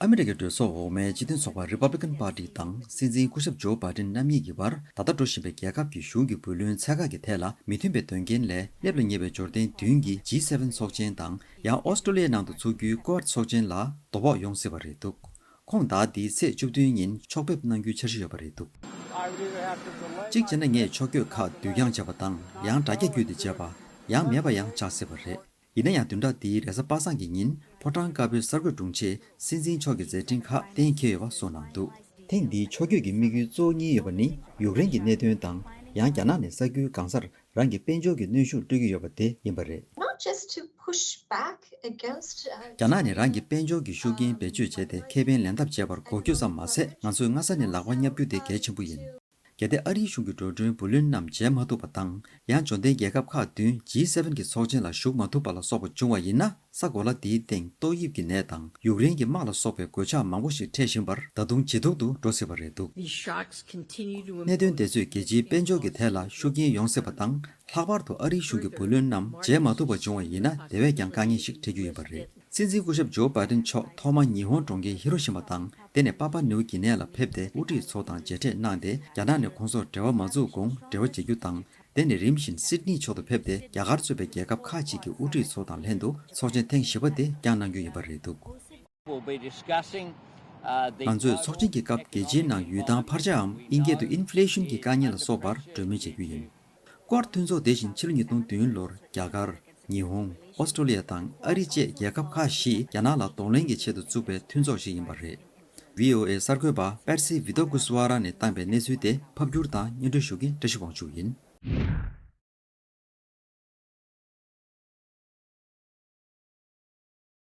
ཨ་མི་རི་ཀའི་གྲོས་ཚོགས་འོག་མའི་སྤྱི་མཐུན་ཚོགས་པ Republican Party དང་སྲིད་འཛིན་སྐུ་ཞབས་ཇོ་བྷ་ཏིན་རྣམ་གཉིས་ཀྱི་བར་ད་ལྟ་འགྲོ་བཞིན་པའི་རྒྱལ་ཁབ་ཀྱི་གཞུང་གི་བུ་ལོན་ཚད་བཀག་གི་ཐད་ལ་མི་མཐུན་པའི་དོན་རྐྱེན་ལས་སླེབས་ལ་ཉེ་བའི་འབྱོར་ལྡན་བདུན་གྱི G7ཚོགས་ཆེན་དང་ཡང་ཨོ་སྟྲོ་ལི་ཡའི་ནང་དུ་ཚུགས་རྒྱུའི Quad ཚོགས་ཆེན་ལ་དོ་ཕོག་ཡོང་སྲིད་པ་རེད་འདུག་ཁོང་དག་འདིའི་ཚེས་བཅུ་བདུན་ཉིན་ཕྱོགས་ཕེབས་གནང་རྒྱུའི་འཆར་གཞི་ཡོད་པ་རེད་འདུག། གཅིག་བྱས་ན་ངས་ཕྱོགས་བསྐྱོད་ཁག་བསྡུས་རྐྱང་བྱས་པ་དང་ཡང་འདྲ་རྒྱ་བསྐྱུད་དེ་བྱས་པ། ཡང་མེད་པ་ཡང་ཆགས་སྲིད་པ་རེད། ཡིན་ན་ཡང་བདུན་ཕྲག་འདིའི་རེས་གཟའ་པ་སངས་ཀྱི་ཉིན་ཕོ་བྲང་དཀར་པོའི་གསར་འགོད་དྲུང་ཆེས་སྲིད་འཛིན་མཆོག་གི་མཛད་འཕྲིན་ཁག་གཏན་འཁེལ་ཡོད་པ་སོགས་གནང་འདུག། ཐེངས་འདིའི་ཕྱོགས་བསྐྱོད་ཀྱི་དམིགས་ཡུལ་གཙོ་བོ་གཉིས་ཡོད་པ་ནི་ཡུཀ་རེན་གྱི་གནད་དོན་དང་ཡང་རྒྱ་ནག་ནས་ས་ཁུལ་གང་སར་རང་གི་དཔལ་འབྱོར་གྱི་གནོན་ཤུགས་སྤྲོད་ཀྱི་ཡོད་པ་དེ་ཡིན་པ་རེད། རྒྱ་ནག་ནས་རང་གི་དཔལ་འབྱོར་གྱི་ཤུགས་རྐྱེན་བེད་སྤྱོད་བྱས་ཏེ་ཁེ་ཕན་ལེན་ཐབས་སྤྱད་པར་གོ་རྒྱུ་ཙམ་མ་ཟད་ང་ཚོས་སྔ་ས་ནས་ལག་པ་བསྙབ་རྒྱུ་དེ་གལ་ཆེན་པོ་ཡིན། གལ་ཏེ་ཨ་རིའི་གཞུང་གི་འགྲོ་གྲོན་བུ་ལོན་རྣམས་འཇལ་མ་ཐུབ་པ་དང་ཡང་འབྱོར་ལྡན་རྒྱལ་ཁབ་ཁག་བདུན G7གྱི་ཚོགས་ཆེན་ལ་ཞུགས་མ་ཐུབ་པ་ལ་སོགས་པ་འབྱུང་བ་ཡིན་ན་ས་གོ་ལ་འདིའི་སྟེང་ཏོག་དབྱིབས་ཀྱི་ནད་དང་ཡུཀ་རེན་གྱི་དམག་ལ་སོགས་པའི་གོད་ཆག་མང་པོ་ཞིག་འཕྲད་བཞིན་པར་ད་དུང་ཇེ་སྡུག་ཏུ་འགྲོ་སྲིད་པ་རེད་འདུག། གནད་དོན་དེ་ཚོས་རྒྱལ་སྤྱིའི་དཔལ་འབྱོར་གྱི་ཐད་ལ་ཤུགས་རྐྱེན་ཡོང་སྲིད་པ་དང་ལྷག་པར་དུ་ཨ་རིའི་གཞུང་གི་བུ་ལོན་རྣམས་འཇལ་མ་ཐུབ་པ་འབྱུང་བ་ཡིན་ན་དེ་བས་ཀྱང་དཀའ་ངལ་ཞིག་འཕྲད་རྒྱུ་ཡིན་པ་རེད། སྲིད་འཛིན་སྐུ་ཞབས་ཇོ་སྦ་ཏན་མཆོག་ཐོག་མ་ཉི་ཧོང་གྲོང་ཁྱེར་ཧི་རོ་ཤི་མ་དང་དེ་ནས་པ་པ་ནེའུ་གྷི་ནེ་ལ་ཕེབས་ཏེ་དབུ་ཁྲིད་ཚོ་དང་མཇལ་འཕྲད་གནང་སྟེ་རྒྱ་ནག་ནས་ཁོང་ཚོར་འབྲེལ་བ་མ་འཛུགས་གོང་འབྲེལ་བ་བྱེད་རྒྱུ་དང་དེ་ནས་རིམ་བཞིན་སིད་ནི་ཕྱོགས་དུ་ཕེབས་ཏེ་རྒྱ་གར་གཙོས་པའི་རྒྱལ་ཁབ་ཁག་ཅིག་གི་དབུ་ཁྲིད་ཚོ་དང་ལྷན་དུ་ཚོགས་ཆེན་ཐེངས་བཞི་པ་དེ་བསྐྱངས་གནང་རྒྱུ་ཡིན་པ་རེད་འདུག། ང་ཚོས་ཚོགས་ཆེན་གྱི་སྐབས་རྒྱལ་སྤྱིའི་ནང་ཡུལ་ཐང་འཕར་ཆའམ་ཨིན་སྐད་དུ Inflation གྱི་དཀའ་ངལ་ལ་སོགས་པར་གྲོས་མོལ་བྱེད་རྒྱུ་ཡིན། སྐོར་མཐུན་ཚོགས་དེ་བཞིན་ཕྱི་ལོ་ཉིས་སྟོང་བདུན་ལོར་རྒྱ་གར། ཉི་ཧོང། ཨོ་སི་ཀྲོ་ལི་ཡ་དང་ཨ་རི་བཅས་རྒྱལ་ཁབ་ཁག་བཞིས་རྒྱ་ནག་ལ་གདོང་ལེན་གྱི་ཆེད་དུ་བཙུགས་པའི་མཐུན་ཚོགས་ཤིག་ཡིན་པ་རེད། VOA གསར་འགོད་པ Patsy Widakuswara ནས་བཏང་པའི་གནས་ཚུལ་དེ་ཕབ་སྒྱུར་དང་སྙན་སྒྲོན་ཞུ་མཁན་བཀྲ་ཤིས་དབང་ཕྱུག་ཡིན།